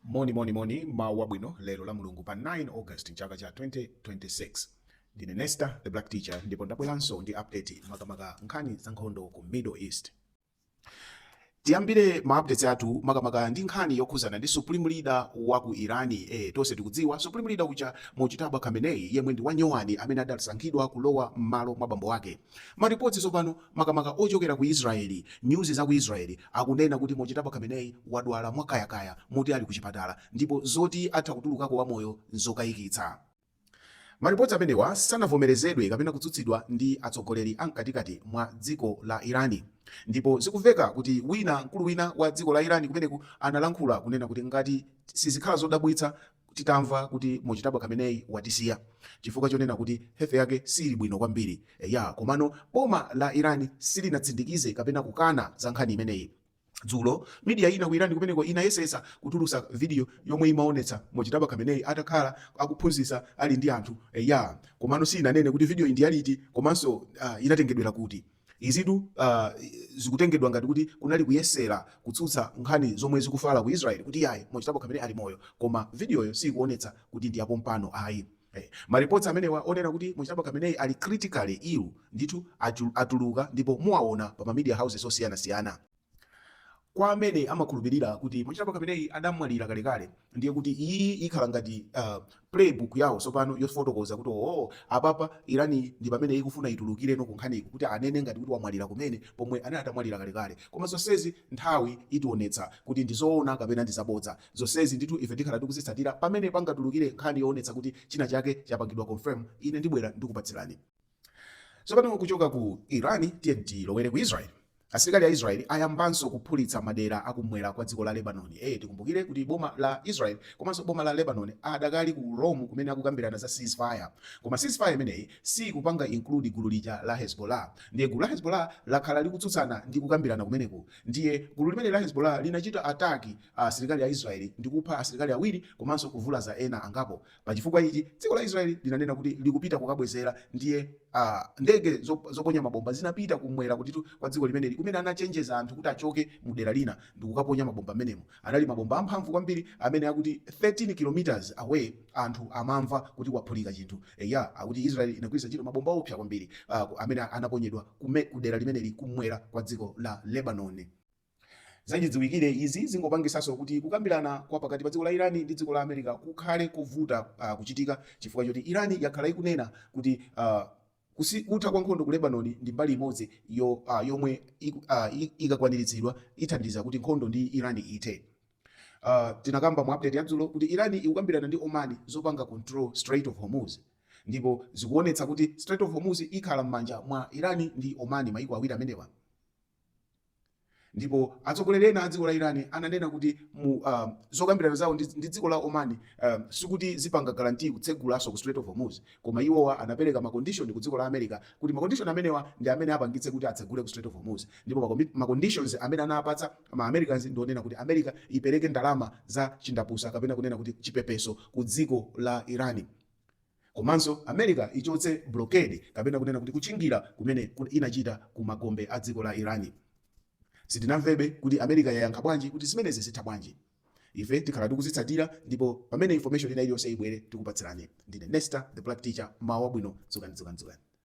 Moni moni moni mawa wabwino lero la mulungu pa 9 August mchaka cha 2026 ndine Nesta the black teacher ndipo ndabweranso ndi update makamaka nkhani za nkhondo ku Middle East tiyambire ma updates athu makamaka ndi nkhani yokhuzana ndi supreme leader wa ku irani eh, tonse tikudziwa supreme leader uja Mojtaba Khamenei yemwe ndi wanyowani amene adasankhidwa kulowa m'malo mwa bambo wake Maripoti tsopano makamaka ochokera ku Israeli, news za ku Israeli akunena kuti Mojtaba Khamenei wadwala mwa kaya kaya moti ali ku chipatala ndipo zoti atha kutulukako wa moyo nzokaikitsa. Maripoti amenewa sanavomerezedwe kapena kutsutsidwa ndi atsogoleri a mkatikati mwa dziko la Irani ndipo zikuveka kuti wina mkulu wina wa dziko la Irani kumeneku analankhula kunena kuti ngati sizikhala zodabwitsa titamva kuti Mojtaba Khamenei watisiya chifukwa chonena kuti health yake siili bwino kwambiri. Eya, komano boma la Iran silinatsindikize kapena kukana za nkhani imeneyi. Dzulo, media ina ku Iran kumeneko inayesetsa kutulutsa video yomwe imaonetsa Mojtaba Khamenei atakhala akuphunzitsa ali ndi anthu. Eya, komano siinanene kuti videoyi ndi yaliti komanso inatengedwera kuti. Izitu zikutengedwa ngati kuti kunali kuyesera kutsutsa nkhani zomwe zikufala ku Israel kuti iyayi Mojtaba Khamenei ali moyo koma vidiyoyo siyikuonetsa kuti ndi yapompano ayi. Ma reports amenewa onena kuti Mojtaba Khamenei ali critically ill ndithu atuluka ndipo muwaona pa ma media houses osiyanasiyana. Kwa amene amakhulupirira kuti Mojtaba Khamenei adamwalira kalekale, ndiye kuti iyi ikhala ngati uh, play book yawo tsopano yofotokoza kuti oo, oh, apapa Irani ndi pamene ikufuna itulukireno kunkhaniku kuti anene ngati kuti wamwalira kumene pomwe anali atamwalira kalekale. Koma zonsezi nthawi itionetsa kuti ndi zoona kapena ndi zabodza. Zonsezi ndithu ife tikhala tikuzitsatira pamene pangatulukire nkhani yoonetsa kuti china chake chapangidwa confirm, ine ndibwera ndikupatsirani. Tsopano kuchoka ku Iran tiye tilowere ku Israel. Asilikali a Israel ayambanso kuphulitsa madera akumwera kwa dziko la Lebanon. Eh, tikumbukire kuti boma la Israel komanso boma la Lebanon adakali ku Rome kumene akukambirana za ceasefire. Koma ceasefire imeneyi sikupanga include gulu lija la Hezbollah. Ndiye gulu la Hezbollah lakhala likutsutsana ndi kukambirana kumeneku. Ndiye gulu limeneli la Hezbollah linachita attack asilikali a Israel ndi kupha asilikali awiri komanso kuvulaza ena angapo. Pa chifukwa ichi, dziko la Israel linanena kuti likupita kukabwezera ndiye ndege zoponya mabomba zinapita kumwera kwa dziko limeneli kumene anachenjeza anthu kuti achoke mu dera lina ndikukaponya mabomba mmenemo. Anali mabomba amphamvu kwambiri amene akuti 13 km away anthu amamva kuti kwaphulika chinthu. Eya, akuti Israel inagwiritsa ntchito mabomba oopsa kwambiri amene anaponyedwa ku dera limeneli kumwera kwa dziko la Lebanoni. Zachidziwikire, izi zingopangisanso kuti kukambirana kwa pakati pa dziko la Iran ndi dziko la America kukhale kovuta kuchitika chifukwa choti Iran yakhala ikunena kuti kutha kwa nkhondo ku Lebanon ndi mbali imodzi yomwe ikakwaniritsidwa ithandiza kuti nkhondo ndi Iran ithe. Tinakamba mu update ya dzulo kuti Iran ikukambirana ndi Oman zopanga control Strait of Hormuz ndipo zikuonetsa kuti Strait of Hormuz ikhala m'manja mwa Iran ndi Oman, maiko awiri amenewa. Ndipo atsogoleri ena a dziko la Iran ananena kuti mu um, zokambirana zawo ndi, ndi dziko la Oman um, sikuti zipanga guarantee kutsegulanso kwa Strait of Hormuz, koma iwowa anapereka macondition ku dziko la America kuti macondition amenewa ndi amene apangitse kuti atsegule ku Strait of Hormuz. Ndipo makomi- maconditions amene anapatsa ma Americans ndi onena kuti America ipereke ndalama za chindapusa kapena kunena kuti chipepeso ku dziko la Iran. Komanso America ichotse blockade kapena kunena kuti kutchingira kumene inachita ku magombe a dziko la Iran. Sitinamvebe kuti America yayankha bwanji kuti zimenezi zitha bwanji. Ife tikhala tikuzitsatira ndipo pamene information ina iliyonse ibwere tikupatsirani. Ndine Nesta the Black Teacher mmawa wabwino dzukani dzukani dzukani.